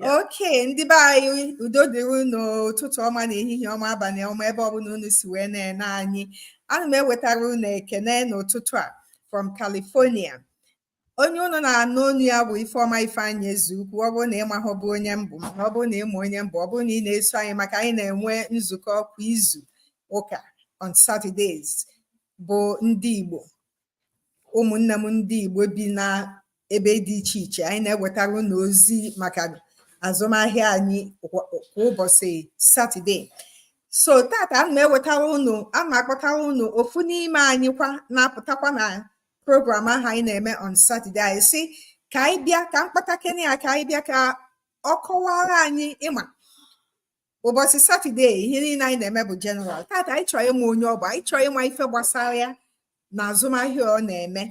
okay ndị be anyị udo dịrị unu ụtụtụ ọma na ehihie ọma abalị ọma ebe ọbụla unu si wee na-ene anyị ana m ewetara unu ekene n'ụtụtụ a from California onye unu na-anụ onu ya bụ Ifeọma Ifeanyị Ezeukwu ọ bụrụ na ị mahụbụ onye m bụ mana ọ bụrụ na ị ma onye m bụ ọ bụrụ na ị na-eso anyị maka anyị na-enwe nzukọ kwa izu ụka on Saturdays bụ ndị Igbo ụmụnne m ndị Igbo bi na ebe dị iche iche anyị na-ewetara unu ozi maka azụmahịa anyị kwa ụbọchị satọde so tata ana m ewetara unu ana m akpọtara unu ofu n'ime anyị kwa na-apụtakwa na program ahụ anyị na-eme on satọde anyị sị ka anyị bịa ka m kpọtakene ya ka anyị bịa ka ọ kọwara anyị ị ma ụbọchị satọde ihe niile anyị na-eme bụ general tata anyị chọrọ ịma onye ọ bụ anyị chọrọ ịma ife gbasara ya na azụmahịa ọ na-eme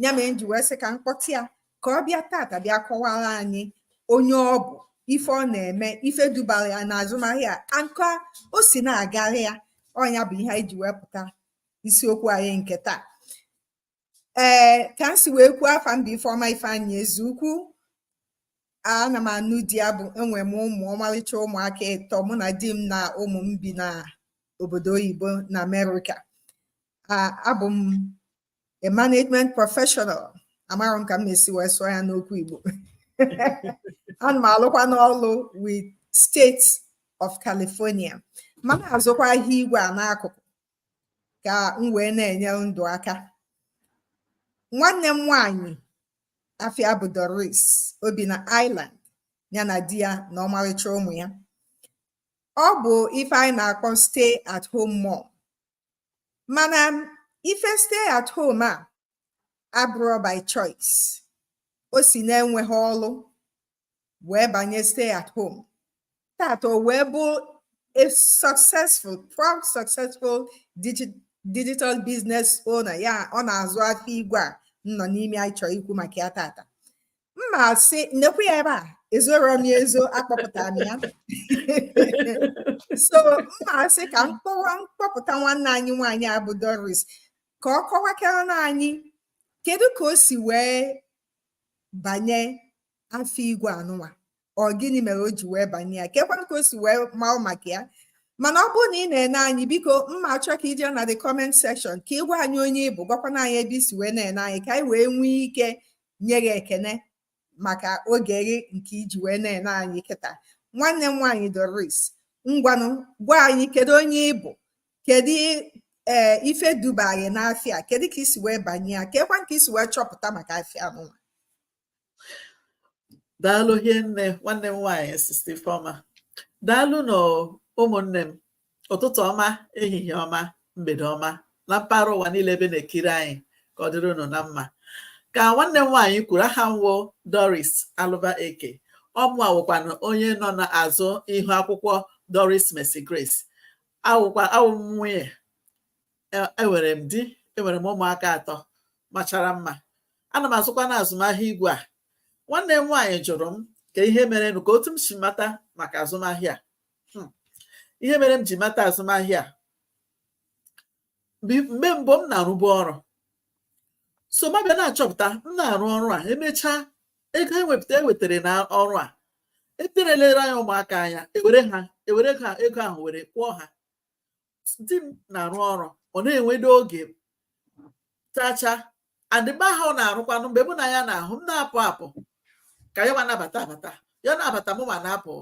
ya mere m ji wee sị ka m kpọta ya ka ọ bịa tata bịa kọwara anyị onye ọ bụ ife ọ na-eme ife dubara ya na azụmahịa and ka o si na-agara ya ọ nya bụ ihe anyị ji wepụta isiokwu anyị nke taa ee ka m si wee kwuo afa m bụ Ifeọma Ifeanyị Ezeukwu ana m anụ di ya bụ enwe m ụmụ ọmalịcha ụmụaka ịtọ mụ na di m na ụmụ m bi na obodo oyibo na Amerịka abụ m a management professional amarọ m ka m ma-esi wee sụọ ya n'okwu Igbo ana m alụkwa n'ọlụ with State of California ma na-azụkwa ahịa igwe a n'akụkụ ka m wee na-enye ndụ aka nwanne m nwanyị afa ya bụ Doris o bi na Ireland ya na di ya na ọmarịcha ụmụ ya ọ bụ ife anyị na-akpọ stay at home mom mana ife stay at home a abụrọ by choice o si na enweghị ọlụ wee banye stay at home tata o wee bụ a successful proud successful digital business owner ya ọ na-azụ afịa igwe a nọ n'ime anyị chọrọ ikwu maka ya tata m ma-asị nekwa ya ebe a ezorọ m ya ezo akpọpụtara m ya so m ma-asị ka m kpọpụta nwanne anyị nwaanyị a bụ Doris ka ọ kọwakara na anyị kedu ka o si wee banye afịa igwe anụnwa ọ gịnị mere o ji wee banye ya kekwanụ ka o si wee maa maka ya mana ọ bụrụ na ị na-ene anyị biko m ma-achọ ka i je na the comment section ka ị gwa anyị onye ị bụ gwakwana anyị ebe i si wee na-ene anyị ka anyị wee nwee ike nye gị ekene maka oge gị nke i ji wee na-ene anyị kịta nwanne m nwaanyị Doris ngwanụ gwa anyị kedu onye ị bụ kedu ee eh, ife duba gị n'afịa kedu ka i si wee banye ya keekwa ka i si wee chọpụta maka afịa nụwa daalụ hinne nwanne m nwaanyị sister Ifeoma daalụnụ ụmụnne m ụtụtụ ọma ehihie ọma mgbede ọma na mpaghara ụwa niile ebe na-ekiri anyị ka ọ dịrị unu na mma ka nwanne m nwaanyị kwuru aha m wụ Doris Alụba Eke ọ mụa wụkwanụ onye nọ n'azụ ihu akwụkwọ Doris Mercy Grace awụkwa awụ m nwunye e- enwere m di enwere m ụmụaka atọ machara mma ana m azụkwana azụmahịa igwe a nwanne m nwaanyị jụrụ m ka ihe merenụ ka otu m si mata maka azụmahịa a. Hmm. ihe mere m ji mata azụmahịa a mgbe mbụ m na-arụbu ọrụ so m abịa na-achọpụta m na-arụ ọrụ a emechaa ego ewepụta ewetara na ọrụ a eterelere anyị ụmụaka anya ewere ha ewere ha ego ahụ were kwụọ ha di m na-arụ ọrụ ọ na-enwedo oge chacha and ebe ahụ ọ na-arụkwanụ mgbe mụ na ya na-ahụ m na-apụ apụ ka yanwa na-abata abata ya na-abata mụnwa na-apụ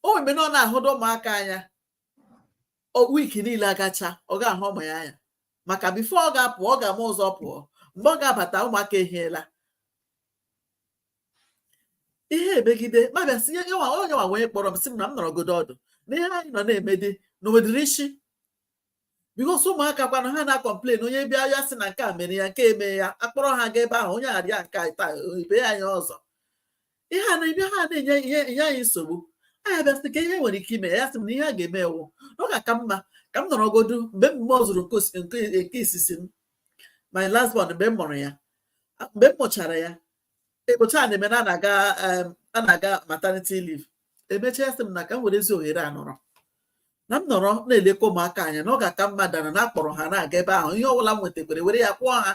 o wee mee na ọ na-ahụdo ụmụaka anya week niile agachaa ọ ga-ahụ ụmụ ya anya maka before ọ ga-apụ ọ ga-ama ụzọ pụọ mgbe ọ ga-abata ụmụaka ehiela ihe emegide m abịa sị yanwa yanwa wee kpọrọ m sị m na m nọrọgodo ọdụ na ihe anyị nọ na-eme dị na o nwedịghị isi because ụmụaka kwana ha na-acomplain onye bịa ya sị na nke a mere ya nke a mee ya akpọrọ ha ga ebe ahụ onye arịa nke taa ibe ya arịa ọzọ ihe a na-abịa na-enye ihe enye anyị nsogbu anyị abịa sị ka ihe e nwere ike ime ya sị m na ihe a ga-eme wụ na ọ ga-aka mma ka m nọrọgodu mgbe m mụzịrị nke osi- nke nke isisi m my last born mgbe m mụrụ ya mgbe m mụchara ya ekpocha a na-eme na a na-aga em, a na-aga maternity leave emechaa sị m na ka m werezi ohere a nọrọ na m nọrọ na-elekọ ụmụaka anya na ọ ga-aka mma than na akpọrọ ha na-aga ebe ahụ ihe ọbụla m nwetakwere were ya kwụọ ha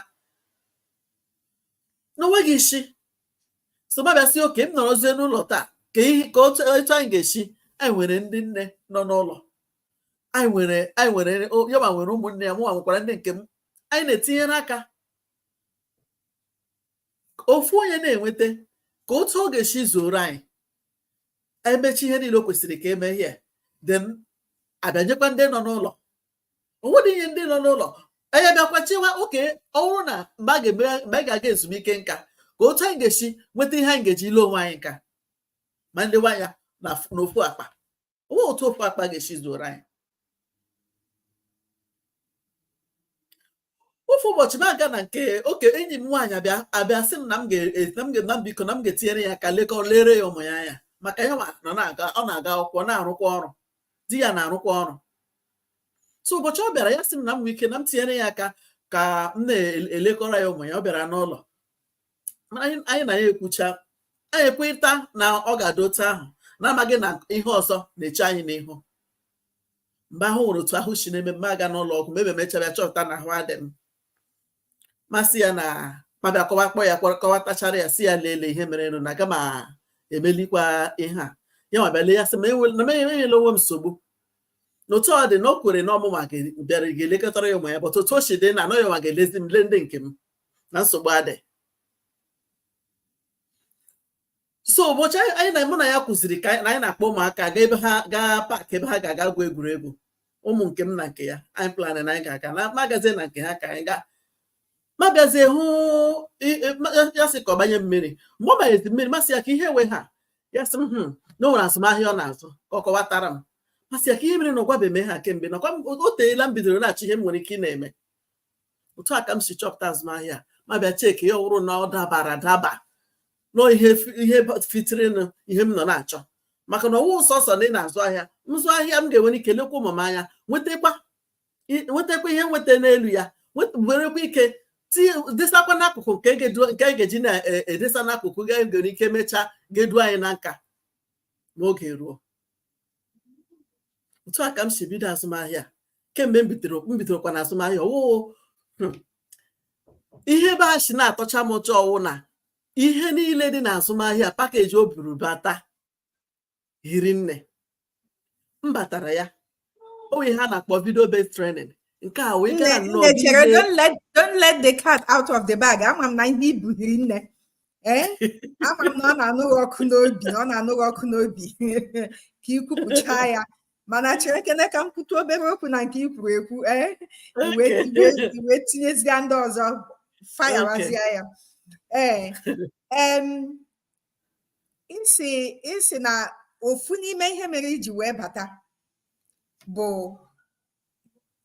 na o nweghị isi so m abịa sị okay m nọrọzie n'ụlọ taa ka ihe ka otu etu anyị ga-esi anyị nwere ndị nne nọ n'ụlọ anyị nwere anyị nwere o- yanwa nwere ụmụnne ya mụnwa nwekwara ndị nke m anyị na-etinyere aka ka ofu onye na-enweta ka otu ọ ga-esi zuoro anyị emechie ihe niile o kwesịrị ka e mechie then abịa nyekwa ndị nọ n'ụlọ o nwedị ihe ndị nọ n'ụlọ anyị bịakwa chewa okay ọ wụrụ na mgbe anyị ga-aga ezumike nka ka otu anyị ga-esi nweta ihe anyị ga-eji ile onwe anyị nka ma ndị nwe anyị n'ofu akpa o nwe otu ofu akpa ga-esi zuoro anyị ofu ụbọchị m aga na nke oke enyi m nwaanyị abịa abịa sị m na m ga na m biko na m ga-etinyere ya aka lekọ lere ya ụmụ ya anya maka ya na na-aga ọ na-aga akwụkwọ na-arụkwa ọrụ di ya na-arụkwa ọrụ so ụbọchị ọ bịara ya sị m na m nwee ike na m tinyere ya aka ka m na-elekọrọ ya ụmụ ya ọ bịara n'ụlọ anyị na ya ekwucha anyị ekweta na ọ ga-adị otu ahụ na-amaghị na ihe ọzọ na-eche anyị n'ihu mgbe ahụ nwere otu ahụ si na-eme m m aga n'ụlọ ọgwụ mgbe e mechara chọpụta na ahụ adị m m asị ya na m abịa kọwa kpọọ ya kọwatachara ya sị ya lelee ihe merenụ na aga m emelikwa ihe a ya ma bịa lee ya sị m na m enyela onwe m nsogbu n'otu ọ dị na o kwere na ọ mụ ma bịara ga-elekọtara ya ụmụ ya but otu o si dị now na ọ ya ma ga-elezi m lee ndị nke m na nsogbu adị so ụbọchị anyị na mụ na ya kwuziri ka anyị na-akpọ ụmụaka gaa ebe ha gaa park ebe ha ga-aga gwuo egwuregwu ụmụ nke m na nke ya anyị plan na anyị ga-aga na m agazie na nke ha ka anyị gaa m agazie hụ ya sị ka ọ banye meeting mgbe ọ banyezi meeting m asị ya ka ihe wụ ihe a ya sị m hmm, na o nwere azụmahịa ọ na-azụ ka ọ kọwatara m m asị ya ka ihe mere na ọ gwabeghị m ihe a kemgbe nakwa o teela m bidoro na-achọ ihe m nwere ike ị na-eme otu a ka m si chọpụta azụmahịa m abịa check ya ọ wụrụ na ọ dabara adaba na ọ ihe ihe fitirinụ ihe m nọ na-achọ maka na ọ wụ sọsọ na ị na-azụ ahịa nzụ ahịa m ga-enwere ike lekwa ụmụ m anya nwetakwa ihe m nweta n'elu ya nwerekwa ike desakwa n'akụkụ nke a ga-eji na-edesa e, n'akụkụ ga-enwere ike mechaa ga-edu anyị na nka ma oge ruo otu a ka m si bido azụmahịa kemgbe m bidoro m bidorokwa na azụmahịa ọ wụ hmm, ihe ebe a si na-atọcha m ụtọ ọ wụ na ihe niile dị na azụmahịa package o buru bata hiri nne m batara ya o nwe ihe a na-akpọ video based training nke a wee gara nnọọ chere don't let the cat out of the bag ama m na ihe i bu hiri nne ee eh? ama m na ọ na-anụ gị ọkụ n'obi na ọ na-anụ gị ọkụ n'obi ka i kwupụcha ya mana cherekene ka m kwute obere okwu na nke i kwuru ekwu i wee tinyezie ndị ọzọ fayawazie ya ee ị sị ị sị na ofu n'ime ihe mere i ji wee bata bụ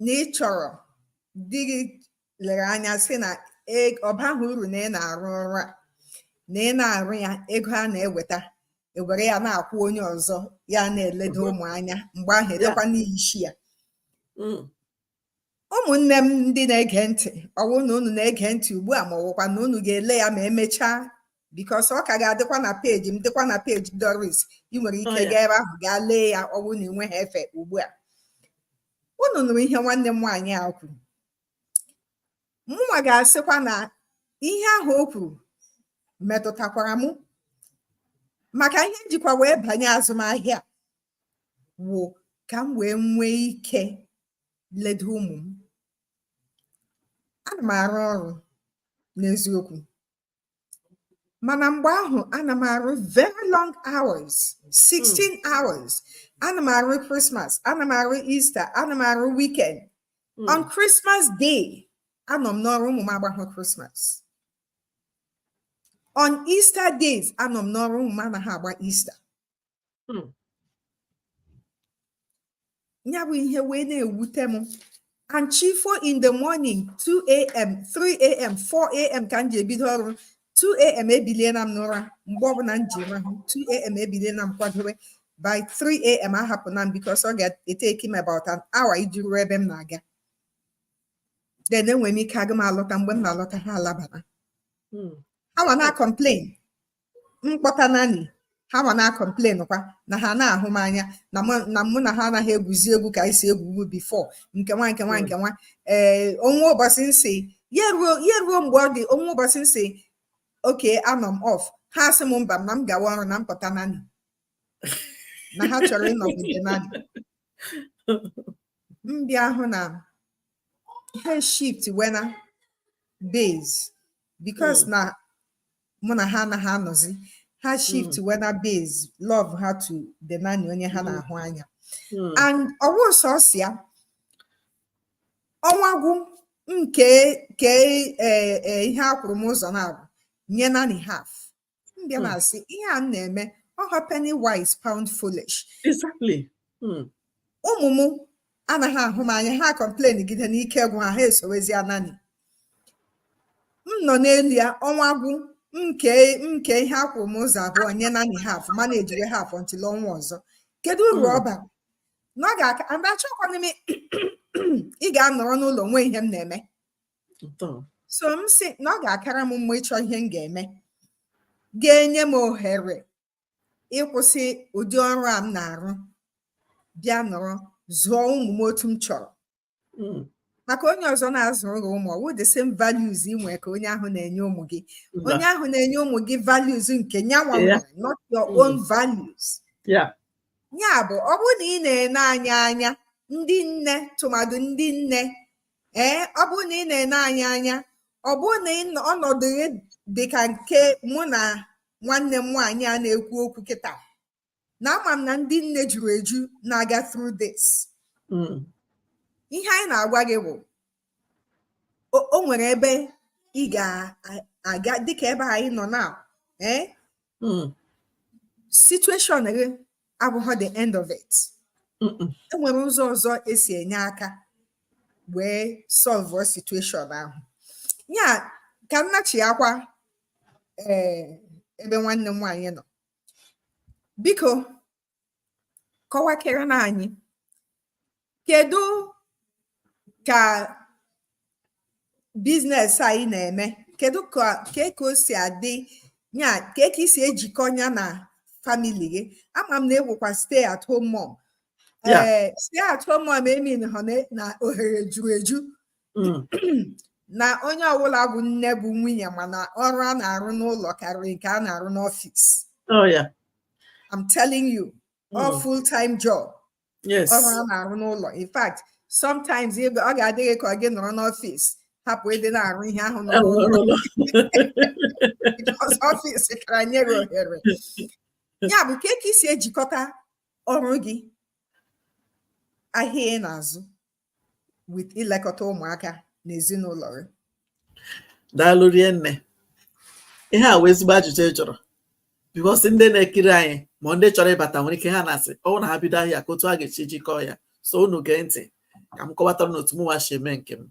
na ị chọrọ dịrị lere anya sị na e, ọ baghị uru na ị na-arụ ọrụ a na ị na-arụ ya ego a na-eweta ewere ya na-akwụ onye ọzọ ya na-eledo ụmụ anya mgbe ahụ edekwa n'ishi ya mm. ụmụnne m ndị na-ege ntị ọwụ na unu na-ege ntị ugbu a ma ọwụkwa na unu ga-ele ya ma emechaa because ọ ka ga-adịkwa na peji m dịkwa na peji Doris ị nwere ike oh, gaa ebe ahụ gaa lee ya ọwụ na ị nweghị efe ugbu a unu nụrụ ihe nwanne m nwaanyị a kwuru mụnwa ga-asịkwa na ihe ahụ o kwuru metụtakwara m maka ihe m jikwa wee banye azụmahịa wụ ka m wee nwee ike ledo ụmụ m ana m arụ ọrụ n'eziokwu mana mgbe ahụ ana m arụ very long hours 16 hmm. hours ana m arụ Christmas ana m arụ Easter ana m arụ weekend hmm. on Christmas day anọ m n'ọrụ ụmụ m agbahụ Christmas on Easter days anọ m n'ọrụ ụmụ m anaghị agba Easter hmm. ya bụ ihe wee na-ewute m and chi fo in the morning 2am 3am 4am ka m ji ebido ọrụ 2am ebiliela m n'ụra mgbe ọbụla m ji rahụ 2am ebiliela m kwadobe by 3am ahapụna m because ọ ga-etake m about an hour iji ruo ebe m na-aga then enwere m ike aga m alọta mgbe m na-alọta ha alabana hmm. ha ma na-complain m kpọta nanny ha ma na-acomplain kwa na ha anaghị ahụ m anya na mụ na ha anaghị egwuzi egwu ka anyị si egwu egwu before nke nwa nke nwa nke nwa ee eh, o nwe ụbọchị m sị ya ruo mgbe ọ dị o nwe ụbọchị m sị okay anọ m off ha asị m mba na m gawa ọrụ na m kpọta nanny na ha chọrọ ịnọgide nanny m bịa ahụ na ha shift wena base because hmm. na mụ na ha anaghị anọzi ha hmm. shift mm. wena base love ha to the nanny onye ha hmm. na-ahụ anya hmm. and ọwụ sọsọ ya ọnwa gwụ m kee ke e, e, ihe a kwụrụ m ụzọ naabọ nye nanny half m bịa na-asị ihe a m na-eme ọ họ penny wise pound foolish exactly ụmụ m anaghị ahụ m anya ha complain gide n'ike gwụ ha ha esowezia nanny m nọ n'elu ya ọnwa gwụ m kee ihe a kwụrụ m ụzọ abụọ nye nanny half ma na-ejiri half until ọnwa ọzọ kedu uru hmm. ọ bara na ọ ga-aka and achọkwana m ị ga-anọrọ n'ụlọ nwee ihe m na-eme so m sị na ọ ga-akara m mma ịchọ ihe m ga-eme ga-enye m ohere ịkwụsị ụdị ọrụ a m na-arụ bịa nọrọ zụọ ụmụ m otu m chọrọ hmm. maka onye ọzọ na-azụrụ gị ụmụ ọwụ the same values ị nwere ka onye ahụ na-enye ụmụ gị onye ahụ na-enye ụmụ gị values nke nyanwa nwere not your hmm. own values ya bụ ọ bụrụ na ị na-ene anyị anya ndị nne tụmadụ ndị nne ee eh, ọ bụrụ na ị na-ene anyị anya ọ bụrụ na ọnọdụ gị dị ka nke mụ na nwanne m nwaanyị a na-ekwu okwu kịta na ama m na ndị nne juru eju na-aga through this hmm. ihe anyị na-agwa gị bụ o nwere ebe ị ga-aga dịka ebe anyị nọ na ee eh? hmm. situation gị abụghị the end of it enwere ụzọ ọzọ esi enye aka wee solve situation ahụ ya ka m nachiakwa eh, ebe nwanne m nwaanyị nọ biko kọwakerenụ anyị kedu ka business a ị na-eme kedu ka kee ka o si adị ya kee ka i si ejikọ ya na family gị ama m na ị wụkwa stay at home mom Yeah. ee stay at home mom emeanghị na ohere juru eju Mm. na onye ọbụla bụ nne bụ nwunye ma na ọrụ a na-arụ n'ụlọ karịrị nke a na-arụ n'ọfịs Oh yeah. I'm telling you, all Mm. full-time job. yes ọrụ a na-arụ n'ụlọ in fact sometimes ee ọ ga-adị gị ka ọ gị nọrọ n'ọfịs hapụ ịdị na-arụ ihe ahụ nọ Arụ n'ụlọ n'ụlọ. because ọfịs kara nye gị ohere ya bụ kee ka i si ejikọta ọrụ gị ahịa ị na-azụ with ilekọta ụmụaka na ezinụlọ gị daalụ rinne ihe a wụ ezigbo ajụjụ ị jụrụ because ndị na-ekiri anyị ma ndị chọrọ ịbata nwere ike ha na-asị ọwụ na ha bido ahịa kee otu a ga-esi jikọọ ya so unu gee ntị ka m kọwatara unu otu mụnwa si eme nke m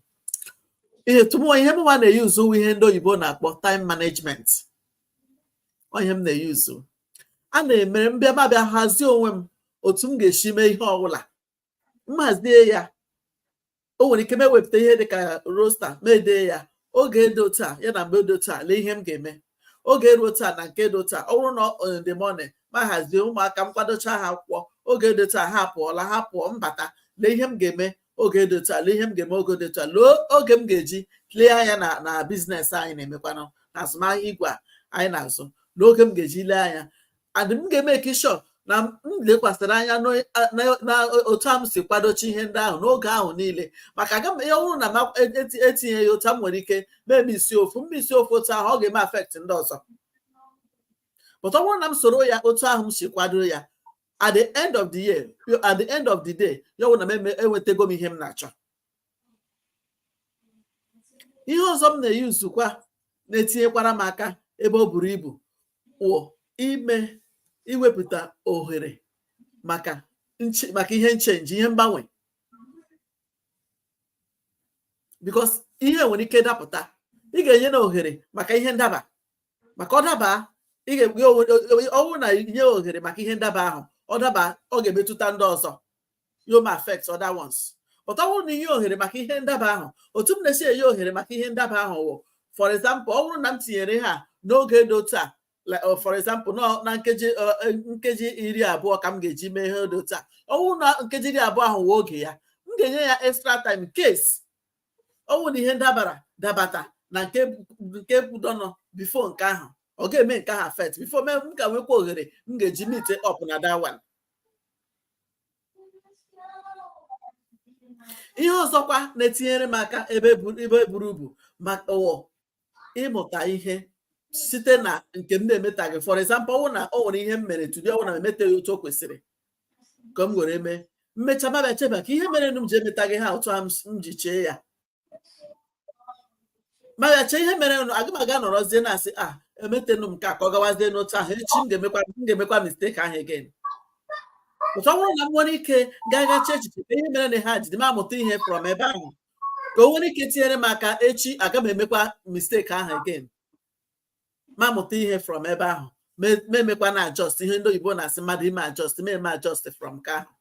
otu mụwa ihe mụnwa na-eyuzu wụ ihe ndị oyibo na-akpọ time management ọ ihe m na-eyuzu a na-emere m bịa m abịa hazie onwe m otu m ga-esi mee ihe ọbụla m hazie ya o nwere ike m ewepụta ihe dị ka rosta m edee ya oge dị otu a ya na mgbe dị otu a lee ihe m ga-eme oge ruo otu a na nke dị otu a ọ bụrụ na in the morning m ahazie ụmụaka m kwadocha ha akwụkwọ oge dị otu a ha pụọla ha pụọ m bata lee ihe m ga-eme oge dị otu a lee ihe m ga-eme oge dị otu a lee oge m ga-eji lee anya na na bizinesi anyị na-emekwanụ na azụmahịa igwe a anyị na-azụ lee oge m ga-eji lee anya and m ga-emeki sure na m lekwasịrị anya n'otu ahụ m si kwadochi ihe ndị ahụ n'oge ahụ niile maka aga m ya bụrụ na m etinye ya otu m nwere ike mee miss ofu m miss ofu otu ahụ ọ ga-eme affect ndị ọzọ but ọ bụrụ na m soro ya otu ahụ m si kwado ya at the end of the year at the end of the day ya bụrụ na m enwetago m ihe m na-achọ ihe ọzọ m na-eyuzukwa na-etinyekwara m aka ebe o buru ibu wụ ime iwepụta ohere maka nche- maka ihe nchenji ihe mgbanwe because ihe nwere ike dapụta ị ga-enye na ohere maka ihe ndaba maka ọ daba ị ga-ekwe onwe- ọ bụrụ na i nye ohere maka ihe ndaba ahụ ọ daba ọ ga-emetụta ndị ọzọ you may affect other ones but ọ bụrụ na i nye ohere maka ihe ndaba ahụ otu m na-esi enye ohere maka ihe ndaba ahụ wụ for example ọ bụrụ na m tinyere ha n'oge dị otu a uh, for example na nkeji uh, uh, nkeji iri abụọ ka m ga-eji mee ihe dị otu a ọ bụrụ na nkeji iri abụọ ahụ wee oge ya m ga-enye ya extra time case ọ bụrụ na ihe ndabara dabata na nke nke kwudonọ before nke ahụ ọ ga-eme nke ahụ affect before mee m ka nwekwa ohere m ga-eji meet up na that one ihe ọzọkwa na-etinyere m aka ebe buru ibu maka ịmụta ihe site na nke m na-emetaghị for example ọ wụ na o nwere ihe m mere today ọ wụ na m emetaghị otu o kwesịrị ka m were mee m mecha m abịa cheba ka ihe mere m ji emetaghị ha otu m ji chee ya m abịa chee ihe merenụ aga m aga nọrọzie na-asị a emetenụ m nke a ka ọ gawazie n'otu ahụ echi m ga-emekwa m ga-emekwa mistake ahụ again but ọ bụrụ na m nwere ike gaa gaa chee echiche ka ihe mere na ha jide m amụta ihe from ebe ahụ ka o nwere ike tinyere m aka echi aga m emekwa mistake ahụ again m amụta ihe from ebe ahụ ma ma emekwa na adjust ihe ndị oyibo na-asị mmadụ ime adjust m eme adjust from nke ahụ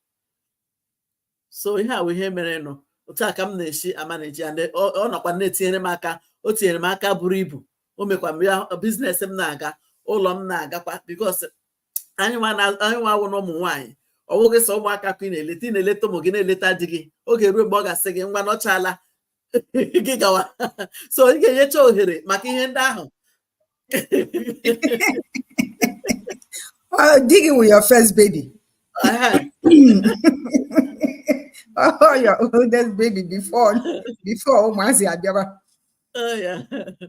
so ihe a wụ ihe merenụ otu a ka m na-esi amaneji ya and ọ nọkwa na-etinyere m aka o tinyere m aka buru ibu o mekwa m ya business m na-aga ụlọ m na-agakwa because anyị nwa na- anyị nwa awụ na ụmụ nwaanyị ọ bụghị sọ ụmụaka ka ị na-eleta ị na-eleta ụmụ gị na-eleta di gị oge ruo mgbe ọ ga-asị gị ngwa nọchala gị gawa so ị ga-enyecha ohere maka ihe ndị ahụ Uh, di gị wụ your first baby. Uh-huh. oh, your oldest baby before before ụmụazị abịaba oh,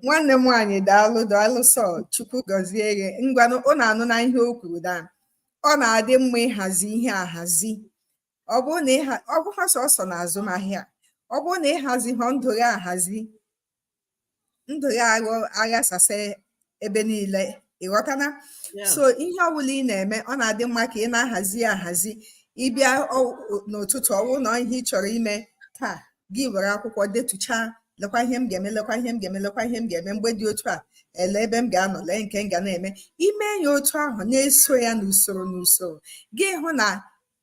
nwanne m nwaanyị daalụ daalụ so Chukwu gọzie gị ngwanụ unu anụna ihe o kwuru da ọ na-adị mma ịhazi ihe ahazi ọ bụrụ na ịha ọ bụhọ sọsọ na azụmahịa ọ bụrụ na ịhazihọ ndụ gị ahazi ndụ gị aghasasị ebe niile ịghọtana Yeah. so ihe ọbụla ị na-eme ọ na-adị mma ka ị na-ahazi ya ahazi ịbịa ọ- ọ- n'ụtụtụ ọwụ na ihe ị chọrọ ime taa gị were akwụkwọ detuchaa lekwa ihe m ga-eme lekwa ihe m ga-eme lekwa ihe m ga-eme mgbe dị otu a lee ebe m ga-anọ lee nke m ga na-eme ime ya otu ahụ na-eso ya n'usoro n'usoro gị hụ na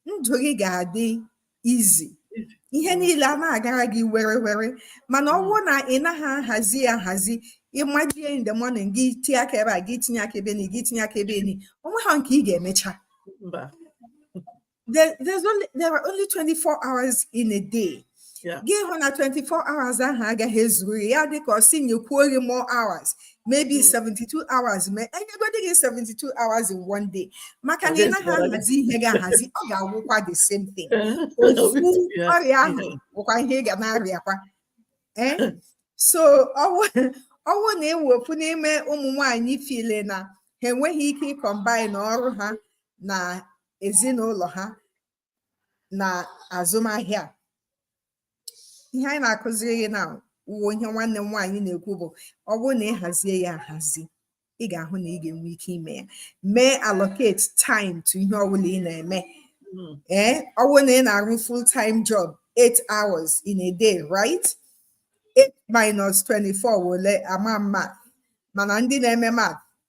ndụ gị ga-adị easy ihe niile a na-agara gị were were mana ọ bụrụ na ị naghị ahazi ya ahazi ịmajie in the morning gị tinye aka ebe a gị tinye aka ebe ni gị tinye aka ebe ni o nweha nke ị ga-emecha there, there's only there are only 24 hours in a day gị hụ na 24 hours ahụ agaghị ezuru gị ya dịka ọ sị nyekwuo gị more hours maybe 72 hmm. hours mee e nyegodi gị 72 hours in one day maka na ị naghị ahazi ihe gị ahazi ọ ga-awụkwa the same thing ofu ọrịa ahụ bụkwa ihe ị ga na-arịakwa eh? so ọwụ na ị wụ ofu n'ime ụmụ nwanyị feel na ha enweghị ike ịcombine ọrụ ha na ezinụlọ ha na azụmahịa ihe anyị na-akụziri gị now wụ ihe nwanne m nwaanyị na-ekwu bụ ọ bụrụ na ị hazie ya ahazi ị ga-ahụ na ị ga-enwe ike ime ya mee allocate time to ihe ọbụla ị na-eme hmm. ee eh, ọ bụrụ na ị na-arụ full time job 8 hours in a day right 8 minus 24 wụ ole ama mma mana ndị na-eme math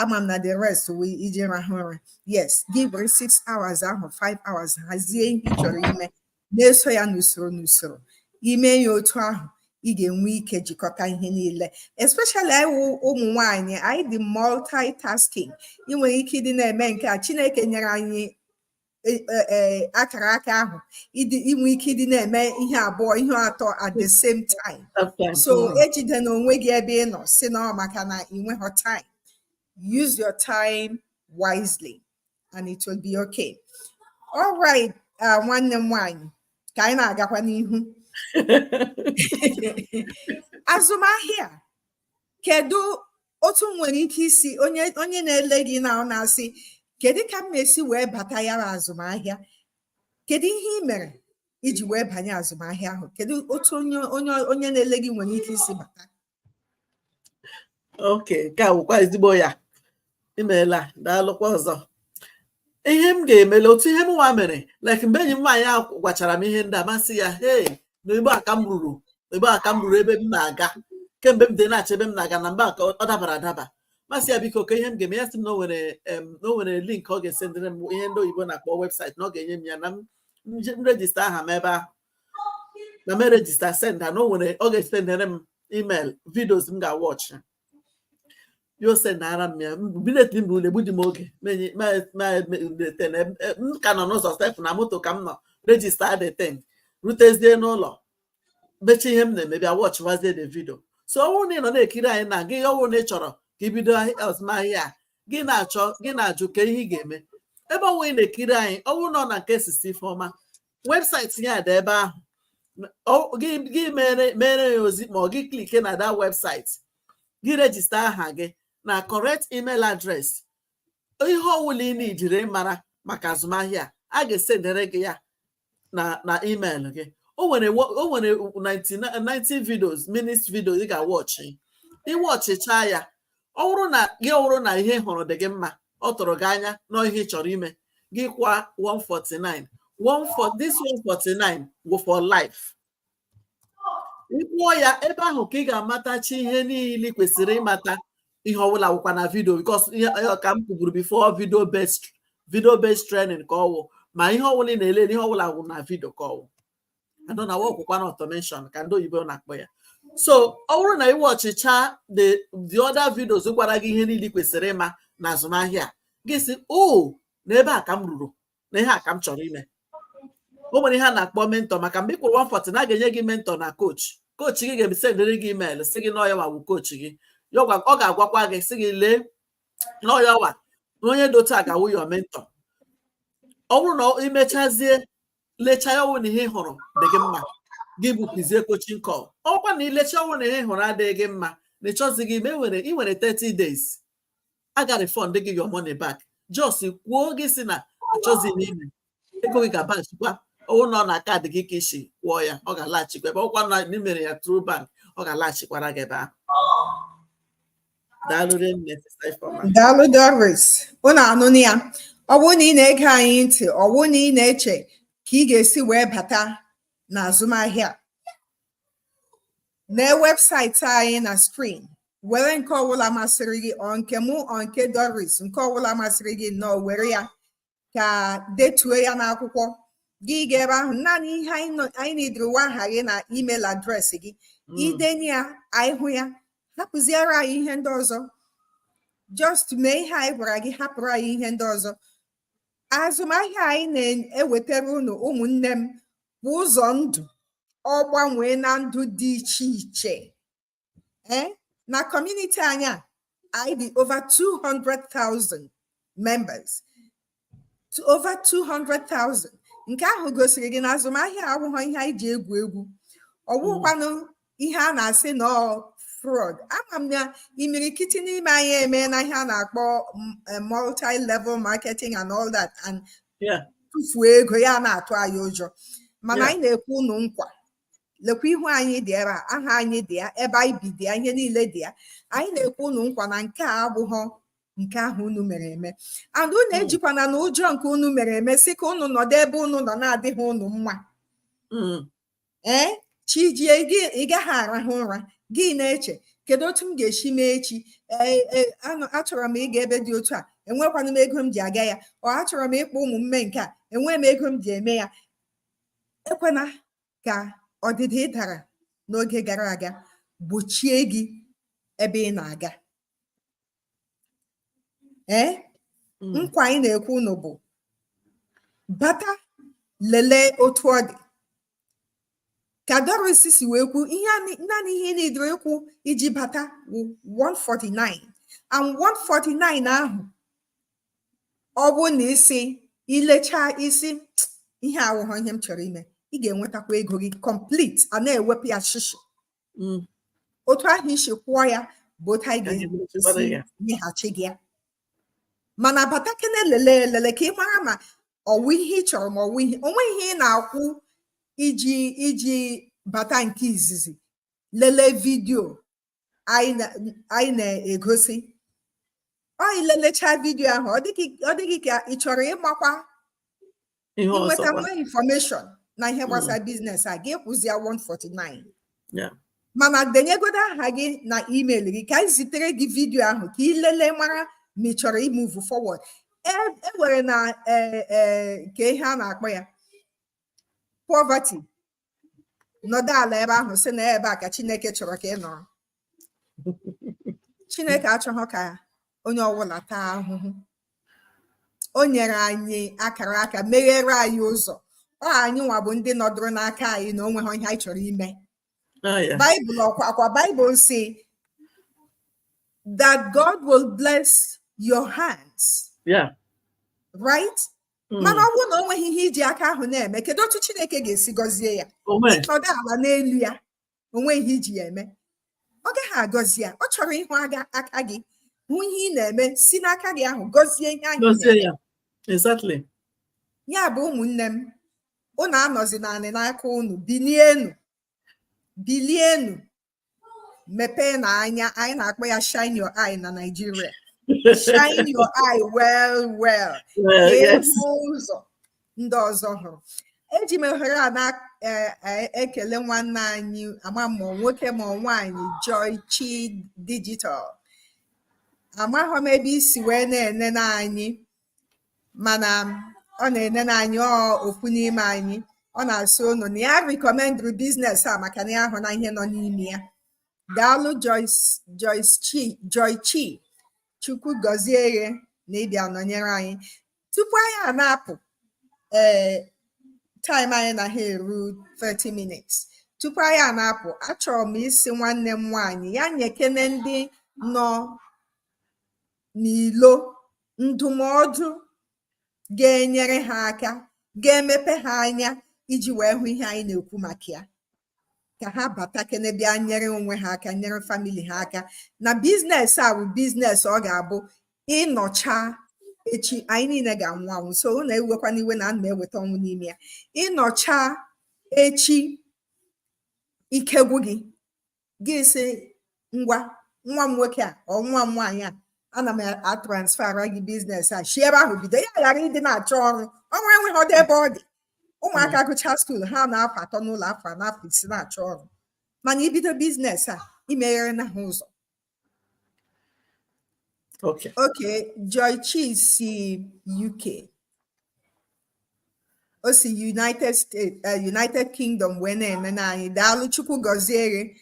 ama m na the rest wụ iji rahụ ụra yes gị were six hours ahụ five hours hazie ihe ị chọrọ ime na-eso ya n'usoro n'usoro ime ya otu ahụ ị ga-enwe ike jikọta ihe niile especially anyị ụmụ nwanyị anyị dị multitasking ị nwere ike ịdị na-eme nke a Chineke nyere anyị e, e, e, akara aka ahụ inwe ike ịdị na-eme ihe abụọ ihe atọ at the same time so mm. ejidena onwe gị ebe ị nọ sị na ọ maka na ị nweghị time use your time wisely and it will be okay all right uh, nwanne m nwanyị ka anyị na-agakwa n'ihu azụmahịa kedu otu nwere ike isi onye onye na-ele gị now na-asị kedu ka m esi wee bata ya na azụmahịa kedu ihe ị mere iji wee banye azụmahịa ahụ kedu otu onye onye onye na-ele gị nwere ike isi bata okay nke a bụkwa ezigbo ya imeela daalụkwa ọzọ ihe m ga-emele otu ihe m nwa mere like mgbe enyi m nwaanyị a gwachara m ihe ndị a m asị ya hei na ebe a ka m ruru ebe a ka m ruru ebe m na-aga kemgbe m dị na-achọ ebe m na-aga na mgbe a ka ọ dabara adaba m asị ya biko ka ihe m ga-eme ya sị m na o nwere em, na o nwere link ọ ga-esendere m ihe ndị oyibo na-akpọ webụsaịtị na ọ ga-enye m ya na m nje- m rejista aha m ebe ahụ na m rejista senda na o nwere ọ ga-esendere m email vidios m ga-awọchị ya esendara m ya bilet mba ule egbudị m oge m ka nọ n'ụzọ sef na moto ka m nọ rejista the thing rutezie n'ụlọ mechaa ihe m na-eme bịa wọchịwazie the vidio so ọ wụrụ na ị nọ na-ekiri anyị na gị ọ wụrụ na ị chọrọ ka i bido azụmahịa a gị na-achọ gị na-ajụ ka ihe ị ga-eme ebe ọ wụ ị na-ekiri anyị ọ wụrụ na ọ na nke sista Ifeoma webụsaịtị ya dị ebe ahụ gị mere ya ozi ma ọ gị klike na that webụsaịtị gị rejista aha gị na correct email address ihe ọwụla ị na-ejiri mara maka azụmahịa a ga-esendere gị ya na na email gị o nwere o nwere 90 videos minutes video ị ga-awọchị ị wọchịcha ya ọ bụrụ na gị ọ bụrụ na ihe ị hụrụ dị gị mma ọ tụrụ gị anya na ihe ị chọrọ ime gị kwụọ 149 140 this 149 wụ for life ị kwụọ ya ebe ahụ ka ị ga-amatachi ihe niile i kwesịrị ịmata ihe ọbụla wụkwa na vidio because ka m kwuburu before video based video based training ka ọ wụ ma ihe ọbụla ị na-ele ihe ọbụla wụ na vidio ka ọ wụ a nọ na-awọkụkwa na automation ka ndị oyibo na-akpọ ya so ọ bụrụ na ị wọchịcha the the other videos gwara gị ihe niile i kwesịrị ịma na azụmahịa gị sị o oh, na ebe a ka m ruru na ihe a ka m chọrọ ime o nwere ihe a na-akpọ mentọ maka mgbe ị kwụrụ 149 a ga-enye gị mentọ na coach coach gị ga-esendere gị email sị gị na ọ ya wa wụ coach gị ọ ga-agwakwa gị sị gị lee na ọ ya wa na onye dị otu a ga-awụ your mentọ ọ bụrụ na i mechazie lecha ya ọwụ na ihe ị hụrụ dị gị mma gị bukuzie coaching call ọ wụkwa na i lecha ọwụ na ihe ị hụrụ adịghị gị mma na ị chọzighị ime e nwere ị nwere 30 days a ga refund gị your money back just kwuo gị sị na achọzighị m ime ego gị ga-abaghachikwa ọwụ na ọ na kaadị gị ka i si kwụọ ya ọ ga-alaghachikwa ebe ọ wụkwa na i mere ya through bank ọ ga-alaghachikwara gị ebe ahụ daalụ rinne sista Ifeoma daalụ Doris unu anụna ya ọ bụrụ na ị na-ege anyị ntị ọ bụrụ na ị na-eche ka ị ga-esi wee bata na azụmahịa na webụsaịtị anyị na skrin were nke ọbụla masịrị gị ọ nke mụ ọ nke Doris nke ọbụla masịrị gị nnọọ were ya ka detuo ya n'akwụkwọ gị ga ebe ahụ naanị ihe anyị needịrị wụ aha gị na email adreesị gị hmm. i denye ya anyị hụ ya hapụziere anyị ihe ndị ọzọ just mee ihe anyị gwara gị hapụrụ anyị ihe ndị ọzọ azụmahịa anyị na-ewetara unu ụmụnne m bụ ụzọ ndụ ọ gbanweena ndụ dị iche iche ee na kọmuniti anyị a anyị dị over 200,000 members to over 200,000 nke ahụ gosiri gị na azụmahịa awụghị ihe anyị ji egwu egwu ọ wụkwanụ ihe a na-asị na ọ fraud ama m na imirikiti n'ime anyị emeena ihe a na-akpọ eh, multi-level marketing and all that and tufuo ego ya na-atụ anyị ụjọ mana anyị na-ekwe unu nkwa lekwa ihu anyị dị ebe a aha anyị dị ya ebe anyị bi dị ya ihe niile dị ya anyị na-ekwe unu nkwa na nke a abụghọ nke ahụ unu mere eme and unu ejikwana na ụjọ nke unu mere eme sị ka unu nọdụ ebe unu nọ na-adịghị unu mma ee chi jie ị gaghị arahụ ụra gị na-eche kedu otu m ga-esi mee echi achọrọ m ịga ebe dị otu a enwekwana m ego m ji aga ya ọ achọrọ m ịkpọ ụmụ m mee nke a enweghị m ego m ji eme ya ekwena ka ọdịda ị dara n'oge gara aga gbochie gị ebe ị na-aga ee hmm. nkwa anyị na-ekwe unu bụ bata lelee otu ọ dị ka Doris si wee kwuo ihe naanị ihe ị needịrị ịkwụ iji bata wụ 149 and 149 ahụ ọ bụrụ na i si i lechaa ị sị ihe a awụghọ ihe m chọrọ ime ị ga-enwetakwa ego gị complete a na-ewepụ ya shishi mm. otu ahụ i si kwụọ ya bụ otu anyị ga-esi nyeghachi gị ya mana batakene lelee elele ka ị mara ma ọ wụ ihe ị chọrọ ma ọ wụ ihe o nwe ihe ị na-akwụ iji iji bata nke izizi lelee vidiyo anyị na-egosi ọ i lelechaa vidio ahụ ọ dị gị ka ị chọrọ ịmakwa inweta more infọmeshọn na ihe gbasara mm. biznes a gị kwụzie 149 mana denyegodo aha gị na email gị ka anyị zitere gị vidio ahụ ka ị lelee mara ma ị chọrọ imuvu forward e nwere e na e, e, nke ihe a na-akpọ ya poverty nọdụ ala ebe ahụ sị na ebe a ka chineke chọrọ ka ị nọrọ chineke achọghị ka onye ọbụla taa ahụhụ o nyere anyị akara aka meghere anyị ụzọ ọ anyị nwa bụ ndị nọdụrụ n'aka anyị na o nweha ihe anyị chọrọ ime ah, baịbụl ọkwa akwa baịbụl sị that God will bless your hands. Yeah. Right? hmm. mana ọ bụrụ na o nweghị ihe i ji aka ahụ na-eme kedu otu Chineke ga-esi gọzie ya ị nọdụ ala n'elu ya o nweghị ihe i ji ya eme ọ gaghị agọzi ya ọ chọrọ ịhụ aga aka gị hụ ihe ị na-eme si n'aka gị ahụ gọzie ihe ahụ ya bụ ụmụnne m unu anọzina anị n'aka unu bilienu bilienu mepeenụ anya anyị na-akpọ ya shine your eye na Nigeria shine your eye well well hụ ụzọ ndị ọzọ hụrụ eji m ohere a na-ekele e, e, nwanne anyị ama ma nwoke ma nwaanyị Joy Chi Digital amaghị m ebe i si wee na-enene anyị mana ọ na-enene anyị ọ ofu n'ime anyị ọ na-asị unu na ya rikọmendịrị biznes a maka na ya ahụna ihe nọ n'ime ya daalụ Joychi chukwu gọzie gị na ịbịa nọnyere anyị tupu anyị a na-apụ ee eh, taịm anyị na ha eru 30 minutes tupu anyị a na-apụ achọrọ m ịsị nwanne m nwaanyị ya nyekene ndị nọ n'ilo ndụmọdụ ga-enyere ha aka ga-emepe ha anya iji wee hụ ihe anyị na-ekwu maka ya ka ha batakene bịa nyere onwe ha aka nyere famili ha aka na biznes a bụ biznes ọ ga-abụ ị nọcha echi anyị niile ga-anwụ anwụ so unu ewekwana iwe na ana m eweta ọnwụ n'ime ya ị nọcha echi ike gwụ gị gị sị ngwa nwa m nwoke a or nwa m nwaanyị a ana m atransfera gị biznes a si ebe ahụ bido ya ghara ịdị na-achọ ọrụ ọrụ enweghịdị ebe ọ dị ụmụaka mm. gụcha skuul ha anọ afọ atọ n'ụlọ afọ anọ afọ isii na-achọ ọrụ mana i bido biznes a i megherena ha ụzọ Okay. Okay, Joy Chi si UK. O si United States, uh, United Kingdom wee na-enene anyị daalụ Chukwu gọzie gị.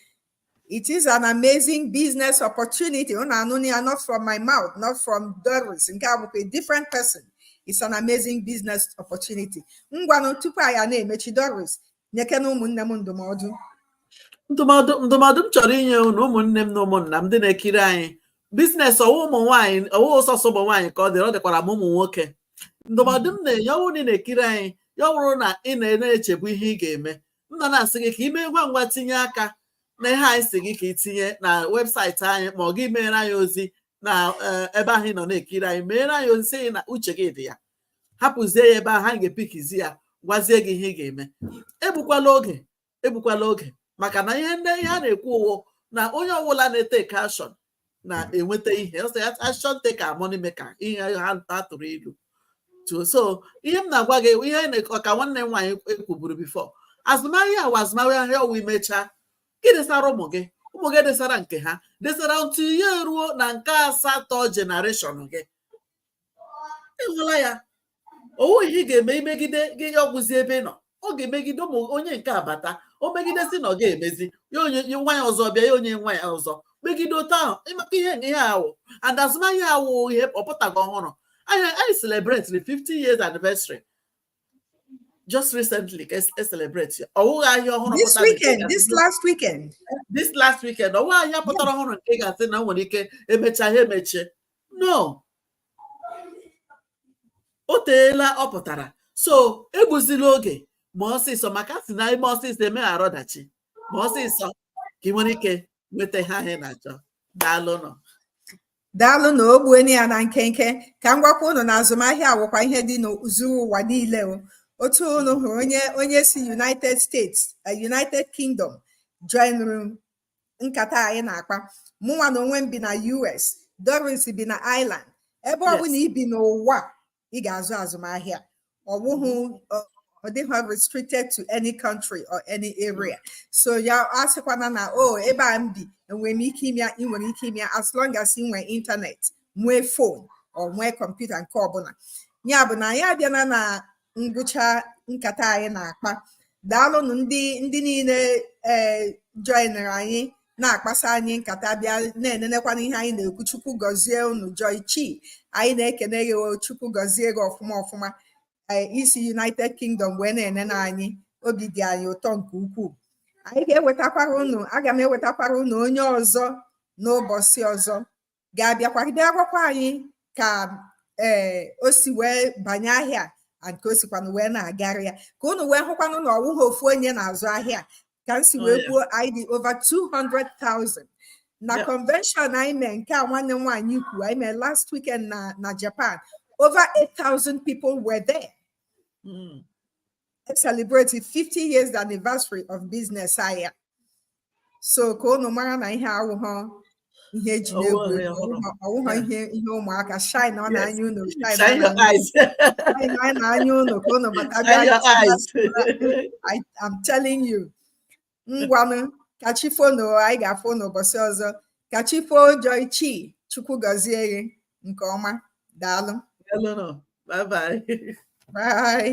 It is an amazing business opportunity. Unu anụna ya not from my mouth, not from Doris. Nke a bụkwa a different person. It's an amazing business opportunity. Ngwanụ tupu anyị a na-emechi Doris, nyeke na ụmụnne m ndụmọdụ ndụmọdụ m chọrọ inye unu ụmụnne m na ụmụnna m ndị na-ekiri anyị biznes ọwụ ụmụ nwaanyị ọwụ sọsọ ụmụ nwaanyị ka ọ dịrị ọ dịkwara ma ụmụ nwoke ndụmọdụ m na-enye ọwụ na ị na-ekiri anyị ya wụrụ na ị na-echebu ihe ị ga-eme m nọ na-asị gị ka ị mee ngwa ngwa tinye aka na ihe anyị sị gị ka ị tinye na webụsaịtị anyị ma ọ gị meere anyị ozi na eh, ebe ahụ ị nọ na-ekiri anyị meere anyị ozi sị na uche gị dị ya hapụzie ya ebe ahụ anyị ga-epikizi ya gwazie gị ihe ị ga-eme egbukwala oge egbukwala oge maka na ihe ndị ihe a na-ekwu ọwụ na onye ọbụla na-eteke action na-enweta ihe ọsọ ya action taker money maker ihe ha ha tụrụ ilu to so ihe m na-agwa gị ihe anyị na- ọka nwanne m nwaanyị ekwuburu before azụmahịa a wụ azụmahịa ọwụ i mechaa gị desara ụmụ gị ụmụ gị desara nke ha desara until ya eruo na nke asatọ generation gị ịhụla ya ọwụghị ihe ị ga-eme i megide gị ya ọ gwụzie ebe ị nọ ọ ga-emegide ụmụ onye nke abata o megide si na ọ ga-emezi ya onye nwa ya ọzọ bịa ya onye nwa ya ọzọ megide otu ahụ maka ihe na ihe a wụ and azụmahịa a wụ ihe ọ pụtaghị ọhụrụ anyị anyị celebrate the 50 years anniversary just recently ka e celebrate ya ọwụghị ahịa ọhụrụ this weekend this last weekend this last weekend ọwụghị ahịa pụtara ọhụrụ nke ị ga-asị na o nwere ike e mechaa ha emechie no o teela ọ pụtara so egbuzila oge mee ọsịsọ maka a sị na e mee ọsịsọ emeghara ọdachi mee ọsịsọ ka ị nwere ike nweta ihe ahụ ị na-achọ daalụnụ daalụ na o gbueni ya na nkenke ka m gwakwa unu na azụmahịa a wụkwa ihe dị n'zuru ụwa niile o otu unu hụrụ onye onye si united states eh, united kingdom joinụrụ nkata anyị na-akpa mụnwa na onwe m bi na US Doris bi na Ireland ebe ọ bụla i bi n'ụwa ị ga-azụ azụmahịa ọ bụghị mm-hmm. ọ dịghị restricted to any country or any area so ya asịkwana na o oh, ebe a m bi enwere m ike ime ya ị nwere ike ime ya as long as ị nwee ịntanetị nwee phone or nwee kọmputa nke ọbụla ya bụ na anyị abịana na ngwụcha nkata anyị na-akpa daalụnụ ndị ndị niile ee eh, joinere anyị na-akpasa anyị nkata bịa na-enenekwana ihe anyị na-ekwu chukwu gọzie unu joy chi anyị na-ekene gị chukwu gọzie gị ọfụma ọfụma eh, i si united kingdom wee na-enene anyị obi dị anyị ụtọ nke ukwuu anyị ga-ewetakwara unu aga m ewetakwara unu onye ọzọ n'ụbọchị ọzọ ga-abịakwa bịa gwakwa anyị ka ee eh, o si wee banye ahịa nke o sikwanụ wee na-agara ya ka unu wee hụkwanụ na ọwụghọ ofu onye na-azụ ahịa ka m si oh, wee kwuo anyị dị over 200,000 na convention anyị mee nke a nwanne m nwaanyị kwu anyị mee last weekend na na Japan over 8,000 people were there. Mm. celebrated 50 years anniversary of business ahịa so ka unu mara na ihe awụghọ ihe eji na-egwu Ọwụghọ ihe egwu, ọhụrụ. ọwụghọ- ọwụghọ Yeah. ihe ihe ụmụaka shineọnụ Yes. anya unu shineọnụ Shine your anya eyes. shineọnụ anya unu ka unu bata bịa Shine your gosi ha eyes. I, I'm telling you. Ngwanụ ka chi foonụ anyị ga-afụ n'ụbọchị ọzọ. Ka chi foo Joy Chi Chukwu gọzie gị nke ọma. Daalụ. Daalụnụ. Bye bye. Bye.